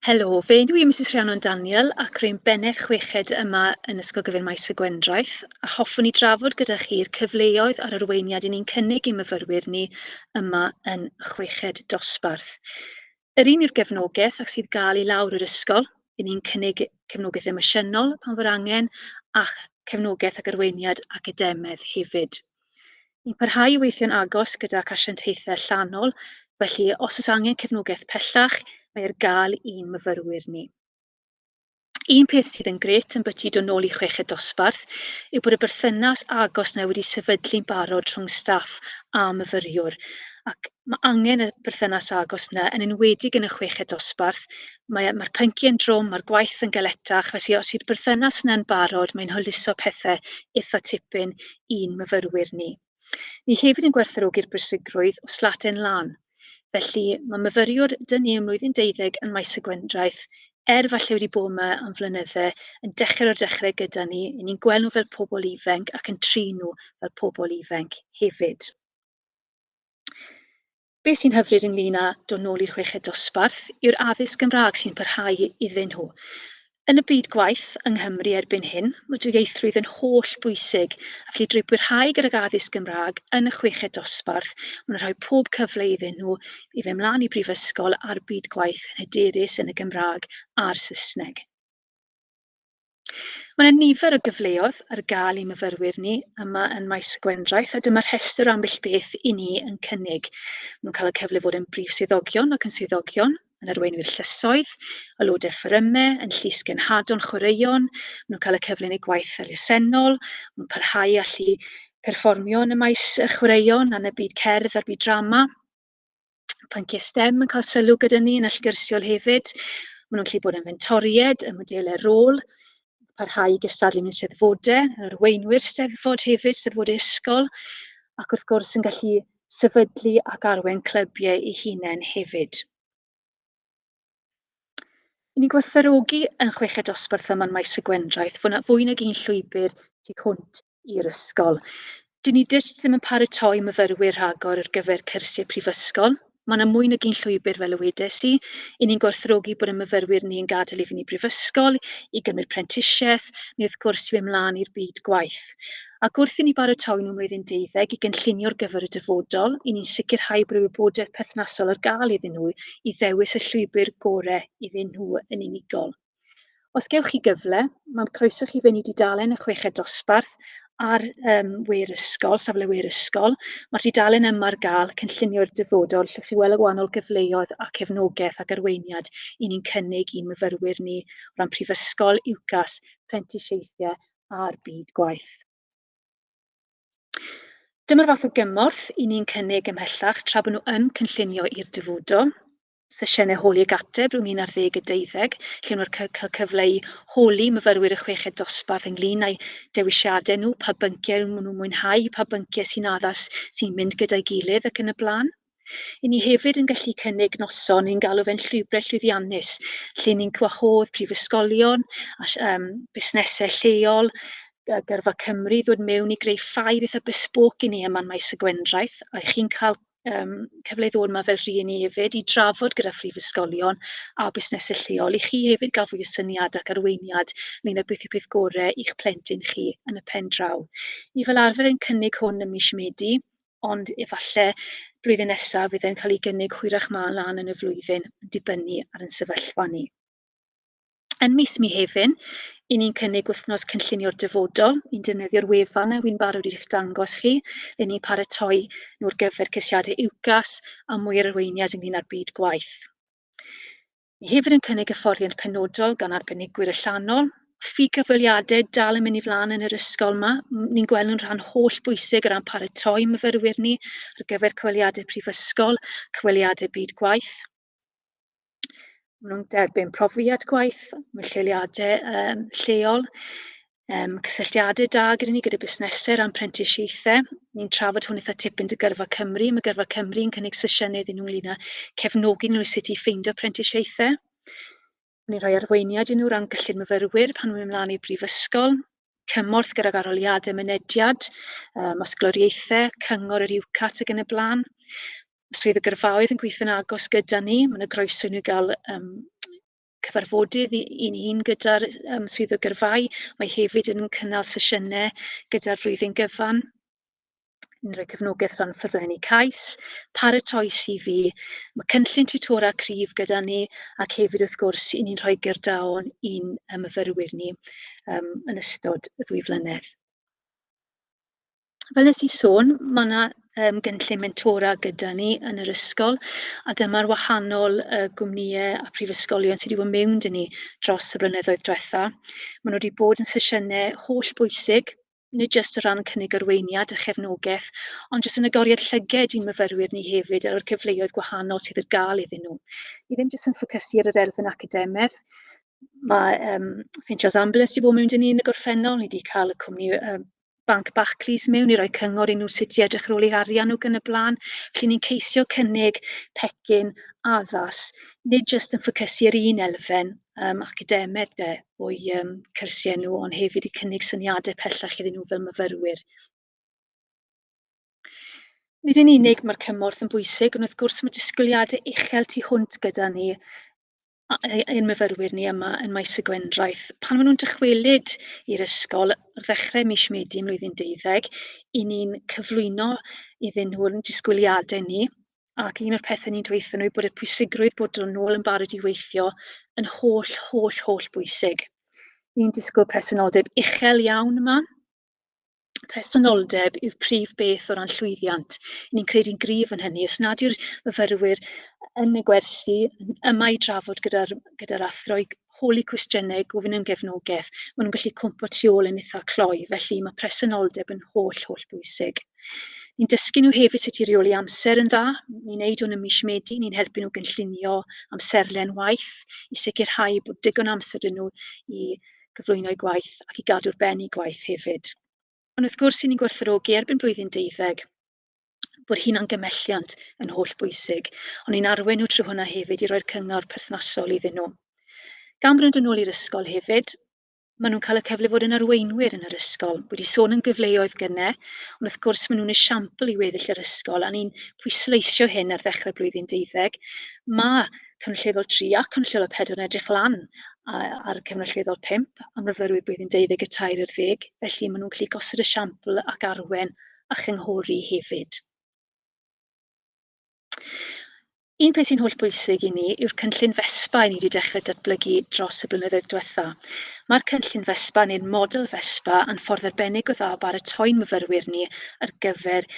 Helo, fe ydw i Misus Rhiannon Daniel ac rwy'n bennaeth chweched yma yn Ysgol Gyfun Maes y Gwendraeth a hoffwn i drafod gyda chi'r cyfleoedd a'r arweiniad i ni'n cynnig i myfyrwyr ni yma yn y chweched dosbarth. Yr un yw'r gefnogaeth ac sydd gael i lawr yr ysgol. I ni'n cynnig cefnogaeth emosiynol pan fo'r angen ac cefnogaeth ac arweiniad academaidd hefyd. Ni'n parhau i weithio'n agos gyda'r asiantaethau allanol, felly os oes angen cefnogaeth pellach, mae ar gael i'n myfyrwyr ni. Un peth sydd yn gret yn byti dod nôl i chweched dosbarth yw bod y berthynas agos na wedi sefydlu'n barod rhwng staff a myfyriwr ac mae angen y berthynas agos yna, yn enwedig yn y chweched dosbarth. Mae'r mae pynciau yn drwm, mae'r gwaith yn galetach, felly os yw'r berthynas yna'n barod, mae'n hwyluso pethau eitha tipyn i'n myfyrwyr ni. Ni hefyd yn gwerthfawrogi'r bwysigrwydd o slaten lân. Felly, mae myfyriwr dŷ ni ym mlwyddyn deuddeg yn Maes y Gwendraeth, er falle wedi bod yma am flynydde, yn dechrau o'r dechrau gyda ni, i ni'n gweld nhw fel pobl ifenc ac yn trin nhw fel pobl ifenc hefyd. Be sy'n hyfryd ynglŷn â dod nôl i'r chweched dosbarth yw'r addysg Gymraeg sy'n parhau iddyn nhw. Yn y byd gwaith yng Nghymru erbyn hyn, mae dwyieithrwydd yn holl bwysig, a felly drwy bwyrhau gydag addysg Gymraeg yn y chweched dosbarth, maen nhw'n rhoi pob cyfle iddyn nhw i fynd mlaen i brifysgol a'r byd gwaith yn hyderus yn y Gymraeg a'r Saesneg. Mae yna nifer o gyfleoedd ar gael i myfyrwyr ni yma yn maes y gwendraeth a dyma rhestr o ambell beth i ni yn cynnig. Mae'n cael y cyfle fod yn brif swyddogion ac yn swyddogion, yn arweinwyr llysoedd, aelodau fforymau, yn llys genhadon chwaraeon, maen cael y cyfle yn eu gwaith elusennol, maen parhau allu perfformio yn y maes y chwaraeon a'n y byd cerdd a'r byd drama. pynciau STEM yn cael sylw gyda ni yn allgyrsiol hefyd. Maen nhw'n gallu bod yn fentoried, y modelau rôl, parhau i gystadlu mewn seddfodau, yn arweinwyr steddfod hefyd, steddfodau ysgol, ac wrth gwrs yn gallu sefydlu ac arwain clybiau ei hunain hefyd. I ni gwerthfarogi yn chweched dosbarth yma yn Maes y Gwendraeth, fwy, na, fwy nag un llwybr tu hwnt i'r ysgol. Dyn ni dyst ddim yn paratoi myfyrwyr rhagor ar gyfer cyrsiau prifysgol. Mae yna mwy nag un llwybr, fel y wedes i. I ni'n gwerthfarogi bod y myfyrwyr ni yn gadael i fyny brifysgol, i gymryd prentisiaeth, neu wrth gwrs i mynd mlaen i'r byd gwaith. ac wrth i ni baratoi mewn flwyddyn deuddeg i gynllunio ar gyfer y dyfodol, i ni'n sicrhau bod y wybodaeth perthnasol ar gael iddyn nhw i ddewis y llwybr gorau iddyn nhw yn unigol. Os gewch chi gyfle, mae'n croeso chi fynd i dudalen y chweched dosbarth ar um, we'r ysgol, safle we'r ysgol. Mae'r dudalen yma ar gael cynllunio'r dyfodol lle chi weld y wahanol gyfleoedd a cefnogaeth ac arweiniad i ni'n cynnig i'n myfyrwyr ni o ran prifysgol, UCAS, prentisiaethau a'r byd gwaith. Dyma'r fath o gymorth i ni'n cynnig ymhellach tra bod nhw yn cynllunio i'r dyfudo. Sesiynau holi ag ateb rhwng 11 a 12, lle nhw'n cael cyfle i holi myfyrwyr y chweched dosbarth ynglyn â'i dewisiadau nhw, pa bynciau maen nhw'n mwynhau, pa bynciau sy'n addas sy'n mynd gyda'i gilydd ac yn y blaen. I ni hefyd yn gallu cynnig noson, ni'n galw fe'n llwybrau llwyddiannus, lle ni'n gwahodd prifysgolion a um, busnesau lleol, gyrfa Cymru ddod mewn i greu ffair eitha besbwc i ni yma yn maes y gwendraeth, a chi'n cael um, cyfle i ddod yma fel rhieni hefyd i drafod gyda phrifysgolion a busnesau lleol i chi hefyd gael fwy o syniad ac arweiniad ynglyn â beth yw peth gorau i'ch plentyn chi yn y pen draw. Ni fel arfer yn cynnig hwn ym mis Medi, ond efallai blwyddyn nesaf fydd e'n cael ei gynnig hwyrach ma lan yn y flwyddyn, yn dibynnu ar yn sefyllfa ni. Yn mis Mihefin, i ni'n cynnig wythnos cynllunio'r dyfodol, i'n defnyddio'r wefan a wy'n barod i'ch dangos chi, le ni'n paratoi nhw'r gyfer cysiadau UCAS a mwy ar arweiniad ynglyn â'r byd gwaith. Ni hefyd yn cynnig hyfforddiant penodol gan arbenigwyr allanol. Ffi cyfweliadau dal yn mynd i flaen yn yr ysgol yma. Ni'n gweld nhw'n rhan holl bwysig o ran paratoi myfyrwyr ni ar gyfer cyfweliadau prifysgol, cyfweliadau byd gwaith. Maen nhw'n derbyn profiad gwaith mewn lleoliadau um, lleol. Yym, cysylltiadau da gyda ni, gyda busnesau ran prentisiaethau. Ni'n trafod hwn eitha tipyn dy gyrfa Cymru. Mae gyrfa Cymru yn cynnig sesiynau iddyn nhw ynglyn â cefnogi nhw i sut i ffeindio prentisiaethau. Ni'n rhoi arweiniad i nhw ran gyllid myfyrwyr pan nhw'n mynd mlaen i'r brifysgol, cymorth gydag arholiadau mynediad, um, osgloriaethau, cyngor yr UCAT ac yn y blaen. Swydd y gyrfaoedd yn gweithio'n agos gyda ni, mae'n y groeso i nhw gael um, cyfarfodydd i i ni gyda'r yym swyddog gyrfaoedd. Mae hefyd yn cynnal sesiynau gyda'r flwyddyn gyfan yn rhoi cefnogaeth rhan ffurflenni cais, paratoi CV, mae cynllun tiwtora cryf gyda ni ac hefyd wrth gwrs i ni'n rhoi gerdaon i'n myfyrwyr ni um, yn ystod y ddwy flynedd. Fel wnes i sôn, ma' 'na, yym, gynllun mentora gyda ni yn yr ysgol, a dyma'r wahanol, yy, gwmnïau a phrifysgolion sydd wedi bod mewn 'da ni dros y blynyddoedd diwetha'. Maen nhw wedi bod yn sesiynau holl bwysig, nid jyst o ran cynnig arweiniad a chefnogaeth, ond jyst yn agoriad llyged i'n myfyrwyr ni hefyd ar y cyfleoedd gwahanol sydd ar gael iddyn nhw. Ni ddim jyst yn ffocysu ar yr elfen academaidd, ma' yym St John's Ambulance wedi bod mewn 'da ni yn y gorffennol, ni wedi cael y cwmni yym banc Barclays mewn i roi cyngor i nhw sut i edrych ar ôl eu harian nhw ac yn y blaen. Felly ni'n ceisio cynnig pecyn addas, nid jyst yn ffocysu ar un elfen um, academeg de, o'i um, cyrsiau nhw, ond hefyd i cynnig syniadau pellach iddyn nhw fel myfyrwyr. Nid yn unig mae'r cymorth yn bwysig, ond wrth gwrs mae disgwyliadau uchel tu hwnt gyda ni. a- ei- ein myfyrwyr ni yma yn Maes y Gwendraeth, pan maen nhw'n dychwelyd i'r ysgol ar ddechrau mis Medi mlwyddyn deuddeg, i ni'n cyflwyno iddyn nhw'n disgwyliadau ni, ac un o'r pethau ni'n dweud nhw yw bod y pwysigrwydd bod nhw'n ôl yn barod i weithio yn holl, holl, holl bwysig. Ni'n disgwyl presenoldeb uchel iawn yma, presenoldeb yw'r prif beth o ran llwyddiant. Ni'n credu'n gryf yn hynny. Os nad yw'r myfyrwyr yn y gwersi yma i drafod gyda'r gyda athro i holi cwestiynau, gofyn am gefnogaeth, maen nhw'n gallu cwmpo tu ôl yn eitha cloi, felly mae presenoldeb yn holl, holl bwysig. Ni'n dysgu nhw hefyd sut i reoli amser yn dda. Ni'n neud hwn ym mis Medi, ni'n helpu nhw gynllunio amserlen waith i sicrhau bod digon amser dyn nhw i cyflwyno'u gwaith ac i gadw'r ben i gwaith hefyd. Ond wrth gwrs, sy'n ni'n gwerthfawrogi erbyn blwyddyn deuddeg bod hunan gymelliant yn holl bwysig, ond ni'n arwen nhw trwy hwnna hefyd i roi'r cyngor perthnasol iddyn nhw. Gan bod yn ôl i'r ysgol hefyd, maen nhw'n cael y cyfle fod yn arweinwyr yn yr ysgol. Wedi sôn yn gyfleoedd gyne, ond wrth gwrs maen nhw'n esiampl i weddill yr ysgol, a ni'n pwysleisio hyn ar ddechrau'r blwyddyn deuddeg. Mae Cyfnod Lleddol 3 a Cyfnod Lleddol 4 yn edrych lan ar y Cyfnod Lleddol 5 am myfyrwyr blwyddyn 23 i'r ddeg, felly maen nhw'n gallu gosod y siampl ac arwen a chynghori hefyd. Un peth sy'n holl bwysig i ni yw'r cynllun FESPA i ni wedi dechrau datblygu dros y blynyddoedd diwetha. Mae'r cynllun FESPA neu'r model FESPA yn ffordd arbennig o dda o baratoi'n myfyrwyr ni ar gyfer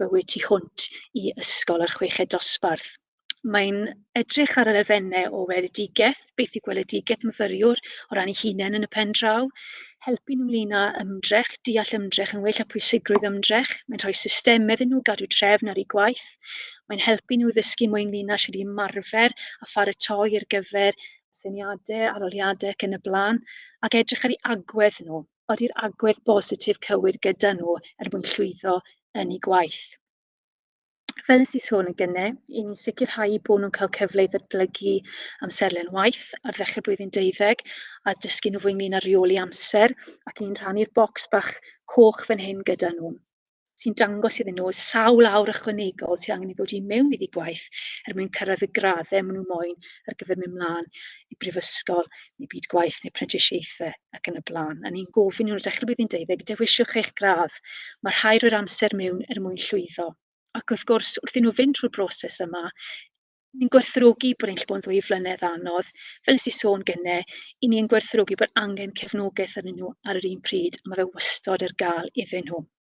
bywyd tu hwnt i ysgol a'r chweched dosbarth. mae'n edrych ar yr elfennau o weledigaeth, beth yw gweledigaeth myfyriwr o ran ei hunain yn y pen draw, helpu nhw ynglyn â ymdrech, deall ymdrech yn well a pwysigrwydd ymdrech, mae'n rhoi systemau iddyn nhw gadw trefn ar eu gwaith, mae'n helpu nhw ddysgu mwy ynglyn â sydd wedi ymarfer a pharatoi ar gyfer syniadau, aroliadau ac yn y blaen, ac edrych ar ei agwedd nhw. Ody'r agwedd bositif cywir gyda nhw er mwyn llwyddo yn ei gwaith. Fel nes i sôn yn gynne, i ni'n sicrhau i bod nhw'n cael cyfle i ddatblygu amserlen waith ar ddechrau blwyddyn deuddeg a dysgu nhw fwy ynglyn â rheoli amser ac ni'n rhannu'r bocs bach coch fan hyn gyda nhw sy'n dangos iddyn nhw sawl awr ychwanegol sydd angen i ddod i mewn iddi gwaith er mwyn cyrraedd y graddau maen nhw moyn ar gyfer mynd mlaen i brifysgol neu byd gwaith neu prentisiaethau ac yn y blaen. A ni'n gofyn i nhw dechrau blwyddyn deuddeg, dewisiwch eich gradd. Mae rhai rhoi'r amser mewn er mwyn llwyddo. Ac wrth gwrs, wrth i nhw fynd trwy'r broses yma, ni'n gwerthrogi bod e'n lle bod yn ddwy flynedd anodd. Fel nes i sôn gynne, i ni yn gwerthrogi bod angen cefnogaeth arnyn nhw ar yr un pryd, a mae fe wastod ar gael iddyn nhw.